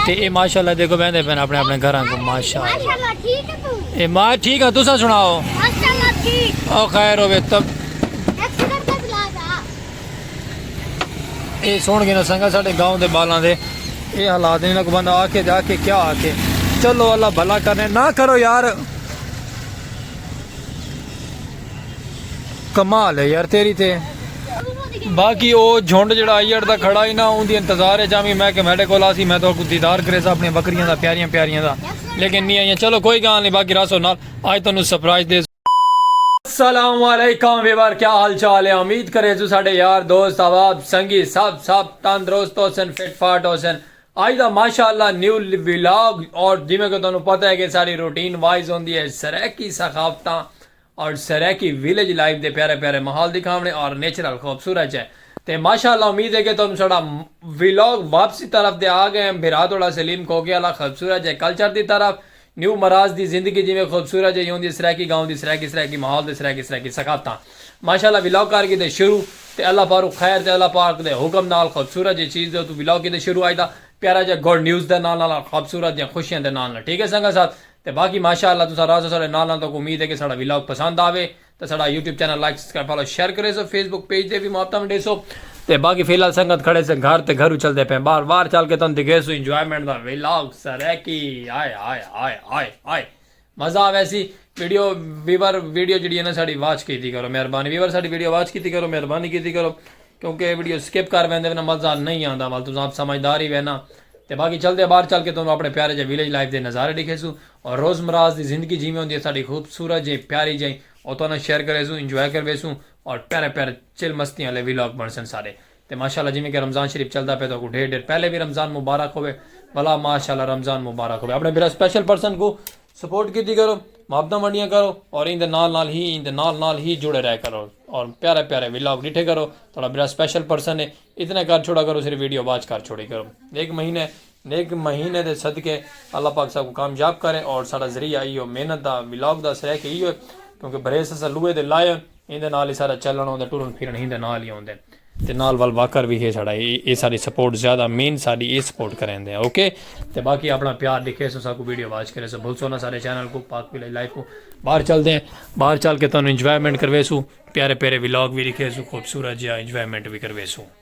تے اے ماشاءاللہ دیکھو بیندے پین اپنے اپنے گھراں کو ماشاءاللہ اے ما ٹھیک ہے تسا سناؤ ماشاءاللہ ٹھیک او خیر ہوے تب اے سن کے نہ سنگا ساڈے گاؤں دے بالاں دے اے حالات نہیں نہ کو بندہ آ کے جا کے کیا آ کے چلو اللہ بھلا کرنے نہ کرو یار کمال ہے یار تیری تے باقی او جھنڈ جڑا آئی اڑ دا کھڑا ہی نا اون دی انتظار ہے جامی میں کہ میڈے کو لاسی میں تو کو دیدار کرے سا اپنی بکریاں دا پیاریاں پیاریاں دا لیکن نہیں آئیاں چلو کوئی گال نہیں باقی راسو نال آج تو نو سپرائز دے السلام علیکم ویوار کیا حال چال ہے امید کرے جو ساڑے یار دوست آواب سنگی سب سب تندرست ہو سن فٹ فاٹ ہو سن آج دا ماشاء اللہ نیو ولاگ اور جیویں کہ تانوں پتہ ہے کہ ساڈی روٹین وائز ہوندی ہے سرائیکی ثقافتاں اور سرائیکی ویلج لائف دے پیارے پیارے ماحول دکھاونے اور نیچرل خوبصورت چے تے ماشاء اللہ امید ہے کہ تانوں ساڈا ولاگ واپسی طرف تے آ گئے ہیں بھرا تہاڈا سلیم کھوکھے آلا خوبصورت جے کلچر دی طرف نیو مراز دی زندگی جیویں خوبصورت جئی ہوندی ہے سرائیکی گاؤں دی سرائیکی سرائیکی ماحول تے سرائیکی سرائیکی ثقافتاں ماشاءاللہ ولاگ کر کیتے شروع تے اللہ پاروں خیر تے اللہ پاک دے حکم نال خوبصورت جئی چیز دے اتوں ولاگ کیتے شروع آئیدا پیارا جیا گڈ نیوز دے نال نال خوبصورت جیاں خوشیاں دے نال نال ٹھیک ہے سنگت صاحب تے باقی ماشاءاللہ تساں راضو ساڈے نال نال تاکوں امید ہے کہ ساڈا ولاگ پسند آوے تے ساڈا YouTube channel like subscribe follow share کریسو فیس بک پیج تے وی ماتم ڈیسو تے باقی فی الحال سنگت کھڑے سے گھر تے گھرو چلدے پئے باہر باہر چل کے تن دکھیسو انجوائمنٹ دا ولاگ سرائیکی ہائے ہائے ہائے ہائے ہائے مزہ آوے سی ویڈیو ویور ویڈیو جڑی ہے نا ساڈی واچ کیتی کرو مہربانی ویور ساڈی ویڈیو واچ کیتی کرو مہربانی کیتی کرو کیونکہ اے ویڈیو سکپ کر ویندے وینا مزہ نہیں آندا وال تساں آپ سمجھدار ہی وینا تے باقی چلدے باہر چل کے تانوں اپنے پیارے جے ویلیج لائف دے نظارے دکھیسو روزمراز دی زندگی جیویں ہوندی ہے ساڈی خوبصورت جئیں پیاری جئیں او تہاڈے نال شیئر کریسوں انجوائے کرویسوں اور پیارے پیارے چل مستیاں آلے ویلاگ بنڑسن ساڈے تے ماشاءاللہ جیویں کہ رمضان شریف چلدا پئے تہاکوں ڈھیر ڈھیر پہلے وی رمضان مبارک ہووے بھلا ماشاءاللہ رمضان مبارک ہووے اپنے بھرا سپیشل پرسن کوں سپورٹ کیتی کرو محبتاں ونڈیاں کرو اور ایندے نال نال ہی ایندے نال نال ہی جڑے رہے کرو اور پیارے پیارے ویلاگ ڈٹھے کرو تہاڈا بھرا سپیشل پرسن ہے اتنا کر چھوڑا کرو صرف ویڈیو واچ کر چھوڑی کرو ایک مہینے نیک مہینے دے صدقے اللہ پاک ساکوں کامیاب کرے اور ساڈا ذریعہ ایہو محنت دا ولاگ دا سریکے ایہو ہے کیونکہ بھریس اساں لوہے دے لائے ہن ایندے نال ہی ساڈا چلن ہوندے ٹرن پھرن ہیندے نال ہی ہوندے تے نال ول واکر وی ہے ساڈا ایہ ساڈی سپورٹ زیادہ مین ساڈی ایہ سپورٹ کریندے اوکے تے باقی اپنا پیار ڈکھیسو ساکوں ویڈیو واچ کریسو بھلسو نا ساڈے چینل کوں پاک ویلیج لائف کوں باہر چل دے باہر چل کے تانوں انجوائمنٹ کرویسو پیارے پیارے ولاگ وی ڈکھیسو خوبصورت جیا انجوائمنٹ وی کرویسو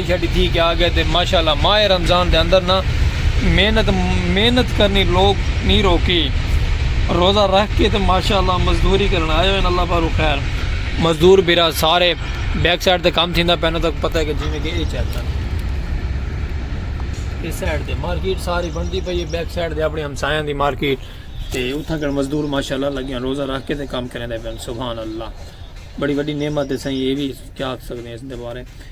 شیشہ ڈتھی کہ آگئے تے ماشاءاللہ ماہ رمضان دے اندر نا محنت محنت کرنی لوگ نی روکی روزہ رکھ کے تے ماشاءاللہ مزدوری کرن آئے ہوئے اللہ پاروں خیر مزدور بھرا سارے بیک سائیڈ تے کام تھیندا پیندا تاکو پتہ ہے کہ جیویں کہ اے چیک کرو اے سائیڈ تے مارکیٹ ساری بندی پئی ہے بیک سائیڈ تے اپنے ہمسایاں دی مارکیٹ تے اتھاں کر مزدور ماشاءاللہ لگیاں روزہ رکھ کے تے کام کرن دے پین سبحان اللہ بڑی بڑی نعمت ہے سائیں اے وی کیا سکدے ہیں اس دے بارے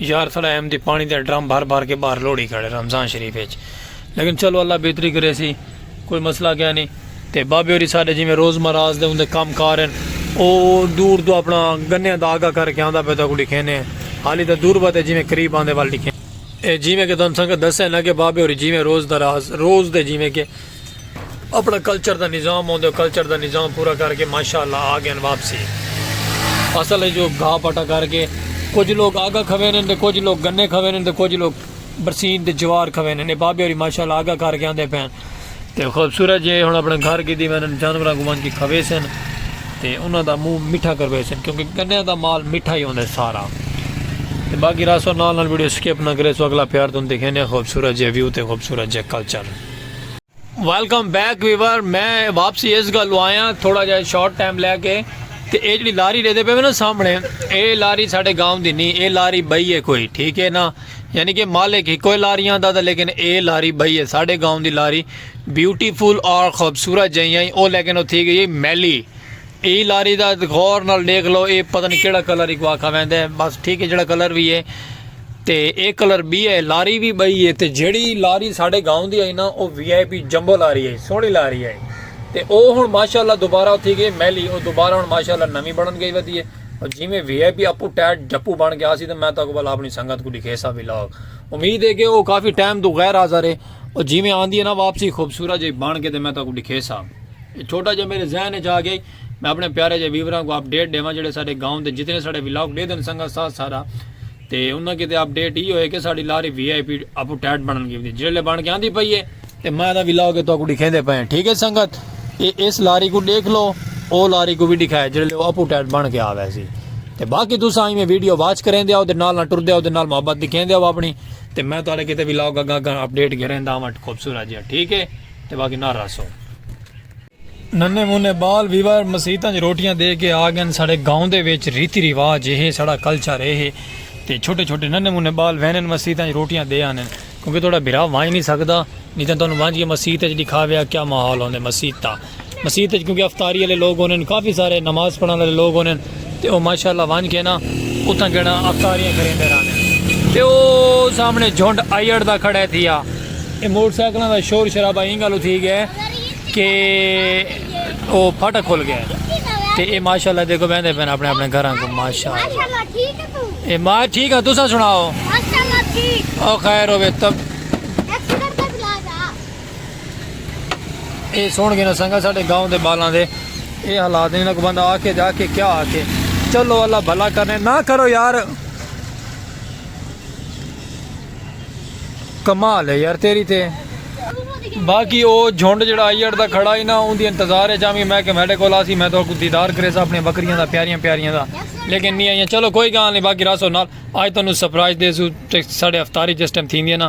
یار ساڑا ایم دی پانی دا ڈرم بھر بھر کے باہر لوڑی کھڑے رمضان شریف وچ لیکن چلو اللہ بہتری کرے سی کوئی مسئلہ کیا نہیں تے بابے ہوری سارے جی میں روز مراز دے اندے کام کار ہیں او دور تو اپنا گنے دا آگا کر کے آندا پہ تو کو لکھینے ہیں حالی دا دور باتے جی میں قریب آندے وال لکھینے ہیں جی میں کہ تن سنگت دسے نا کہ بابے ہوری جی میں روز دراز روز دے جی میں کہ اپنا کلچر دا نظام ہوندے ہو کلچر دا نظام پورا کر کے ماشاء اللہ آ گئے واپسی اصل ہے جو گھا پٹا کر کے کچھ لوگ آگا کھوے نے تے کچھ لوگ گنے کھوے نے تے کچھ لوگ برسین تے جوار کھوے نے بابے ہوری ماشاء اللہ آگا کر کے آندے پین تے خوبصورت جے ہن اپنے گھر کی دی وینن جانوراں کو ونج کے کھوے سن تے انہاں دا منہ میٹھا کروے سن کیونکہ گنے دا مال میٹھا ہی ہوندے سارا تے باقی راسو نال نال ویڈیو سکپ نہ کرے سو اگلا پیار توں دکھینے خوبصورت جے ویو تے خوبصورت جے کلچر ویلکم بیک ویور میں واپسی اس گلو آیا تھوڑا جہا شارٹ ٹائم لے کے تے اے جڑی لاری لے دے پے نا سامنے اے لاری ساڈے گاؤں دی نہیں اے لاری بئی ہے کوئی ٹھیک ہے نا یعنی کہ مالک ہی کوئی لاریاں دا لیکن اے لاری بئی ہے ساڈے گاؤں دی لاری بیوٹیفل اور خوبصورت جہی آئی او لیکن او تھی گئی میلی اے لاری دا غور نال ڈیکھ لو اے پتہ نہیں کیڑا کلر ہی کو آکھا ویندے ہیں بس ٹھیک ہے جیڑا کلر بھی ہے تے اے کلر بھی ہے لاری بھی بئی ہے تے جیڑی لاری ساڈے گاؤں دی آئی نا او وی آئی پی جمبو لاری آئی سونی لاری آئی تے او ہن ماشاءاللہ دوبارہ اتھی گئے میلی او دوبارہ ہن ماشاءاللہ نوی بنن گئی ودی ہے اور جی میں وی آئی پی اپو ٹیٹ جپو بن گیا سی تے میں تاکو بل اپنی سنگت کو دکھے سا ویلاگ امید ہے کہ او کافی ٹائم تو غیر حاضر ہے اور جی میں آندی ہے نا واپسی خوبصورت جی بن کے تے میں تاکو دکھے سا اے چھوٹا جیہا میڈے ذہن اچ آ گئی میں اپنے پیارے جے ویوراں کو اپڈیٹ ڈیواں جیہڑے ساڈے گاؤں دے جتنے ساڈے ولاگ ڈیدن سنگت ساتھ سارا تے انہاں کیتے اپڈیٹ ای ہوئے کہ ساڈی لاری وی آئی پی اپو ٹیٹ بنن گی ہوندی جیہڑے بن کے آندی پئی ہے تے میں دا ولاگ ہے تو کو ڈکھیندے پئے ہیں ٹھیک ہے سنگت اے اس لاری کو ڈیکھ لو او لاری کو بھی ڈکھائے جیہڑے او اپو ٹیٹ بن کے آ ویسی تے باقی تساں ایویں ویڈیو واچ کریں دے او تے نال نہ ٹر دے او تے نال محبت دکھیں دے او اپنی تے میں تہاڈے کیتے ولاگ اگاں اگاں اپڈیٹ گھریں داواں خوبصورت جیہا ٹھیک ہے تے واگی نہ رہسوں۔ ننے منے بال ویور مسیتاں جی روٹیاں دے کے آگن ساڑے گاؤں دے ویچ ریتی ریواج اے ہے ساڑا کلچر اے ہے تے چھوٹے چھوٹے ننے منے بال وینن مسیتاں جی روٹیاں دے آنن کیونکہ توڑا بھرا وانج نہیں سکدا نہیں تاں تانوں وانج کے مسیت جی دکھاویا کیا محال ہوندے مسیت دا۔ مسیت وچ کیونکہ افطاری والے لوگ ہونے کافی سارے نماز پڑھن والے لوگ ہونے تے او ماشاءاللہ ونج کے نا اتھاں جڑا افطاریاں کریندے رہنے تے او سامنے جھنڈ آیڑ دا کھڑے تھیا اے موٹر سائیکلاں دا شور شرابہ ایں گالو تھی گئے کہ او پھٹا کھل گئے تے اے ماشاءاللہ دیکھو بیندے پین اپنے اپنے گھراں کو ماشاءاللہ ٹھیک ہے تو اے ما ٹھیک ہے تساں سناؤ ماشاءاللہ ٹھیک او خیر ہوے تب اے سن کے نہ سنگا ساڈے گاؤں دے بالاں دے اے حالات نے نہ کو بندہ آ کے جا کے کیا آ کے چلو اللہ بھلا کرنے نہ کرو یار کمال ہے یار تیری تے باقی او جھنڈ جڑا آئی اڑ دا کھڑا ہی نہ اون دی انتظار ہے جامی میں کہ میڈے کو لاسی میں تو کو دیدار کرے سا اپنے بکریاں دا پیاریاں پیاریاں دا لیکن نہیں آئیاں چلو کوئی گاں نہیں باقی راسو نال آج تو انہوں سپرائز دے سو ساڑے افتاری جس ٹائم تھی دیئے نا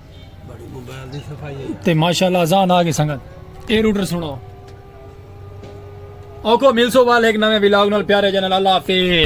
تے ماشاءاللہ ازان آگے سنگت اے روٹر سنو اوکو ملسو وال ایک نوے ویلاگ نال پیارے جنال اللہ حافظ